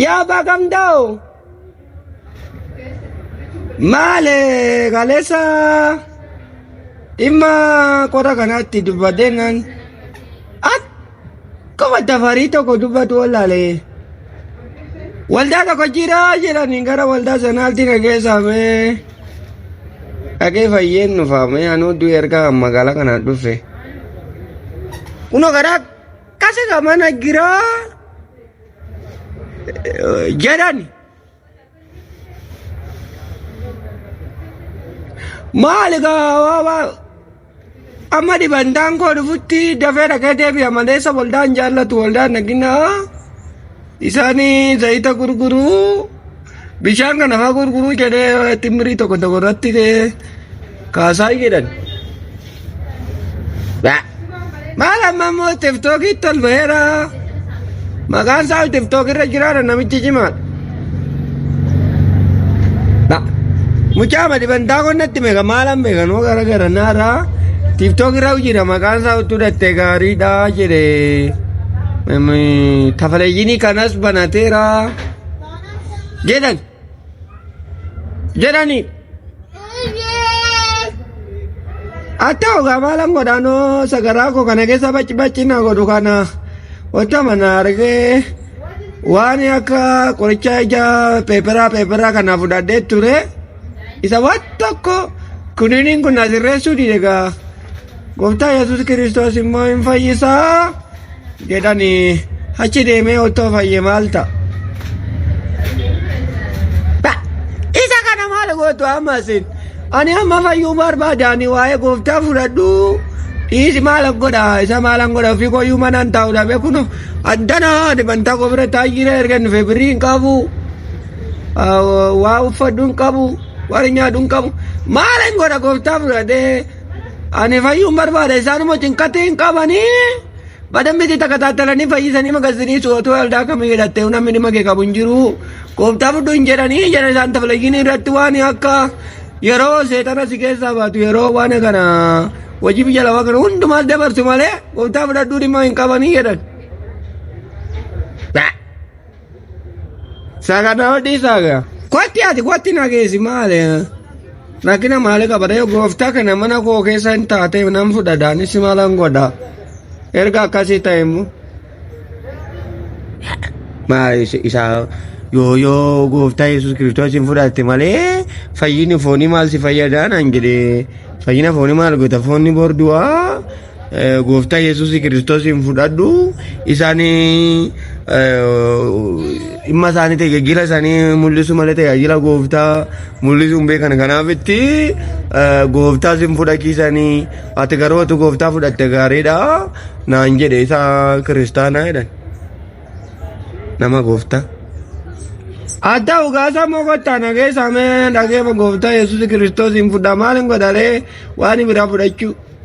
Yaa abbaa gamdaa'o. Maale kaleessa dhimma qora kanaatti dubbadhee nan akkuma dafarii tokko dubbatu wallaale. Waldaa tokko jira jedhanii gara waldaa sanaatti na geessamee dhagee fayyeen nufaamee anuu du'e erga magaalaa kanaan dhufe. Kunoo karaa Kasaka mana gira jedhani. Maali gaawaa amma dhibantaan koo dhufutti dafee dhaqee deebi'a malee isa waldaan jaallatu waldaan dhaginaa. Isaani zayita gurguru bishaan kana faa gurguru jedhee timmirii tokko tokko irratti kaasaa jedhan. Ba- Maal amma immoo tiftookiitti tol baheera. Maqaan isaa tiftookirra jiraata namichi cimaadha. Ba- Mucaa madi bantaa qonnatti meeqa maalan beekan hoo gara gara naaraa tiftookiirra hojiidha maqaan isaa utuu dhattee gaariidha jedhee. Tafaleeyyinii kanas banateera jedhan jedhanii atta ogaa maalan godhaanoo sagaraa koo kana keessa bacci bacci na godhu kana wanta mana argee waan akka qoricha ija peeperaa peeperaa kana fudhadhee ture isa waan tokko kuniniin kun na sirreessuu dide gaa. Gooftaa Yesuus Kiristoos immoo hin fayyisaa jedhanii achi deemee otoo fayye maal ta'a? Ba- Isa kana maal gootu amma isin? Ani amma fayyuu barbaada ani waa'ee gooftaa fudhadhu dhiisi maal godha isa maalan godha ofii kooyyuu manaan taa'u dhabe kun addana dibantaa koo bira taa'ee jira erga hin dhufee birrii hin qabu ah, waa uffadhu hin qabu. Warri nyaadhu hin qabu. Maal hin godha gooftaa fudhatee? Ani fayyuun barbaada isaanuma cinqatti hin qabanii. Badambitti takka taattalanii fayyisanii magazinii su'otuu aldaa kamii hidhattee namni dhimma kee qabu hin jiru. Gooftaa fudhu hin jedhanii jala isaan tafalayyini irratti waan akka yeroo seexana si keessaa baatu yeroo waan kana hojii biyya lafaa kana hundumaas dabarsu malee gooftaa fudhadhuu dhimma hin qabanii jedhan. Saga na hodhii saga. Kotti ati kotti na geessi maali? Rakkina maali qabata yoo gooftaa kana mana koo keessa hin taate nan fudhadha anis maalan godha. Erga akkasii ta'e immoo. Maa isa- isaa yoo yoo gooftaa Yesuus Kiristoos hin fudhatte malee fayyini foonii maal si fayyadaa naan jedhee fayyina foonii maal goota foonni bordu'aa Gooftaa Yesuus Kiristoosiin fudhadhu isaanii dhimma isaanii tajaajila isaanii mul'isu malee tajaajila gooftaa mul'isu hin beekan kanaaf itti gooftaa isin fudhachiisanii ati garuu ati gooftaa fudhatte gaariidha naan jedhe isa kiristaanaa jedhan nama gooftaa. Adda ugaasa mogotta nageessa mee dhageema gooftaa Yesuus Kiristoosiin fudha maaliin godhalee waan biraa fudhachuu.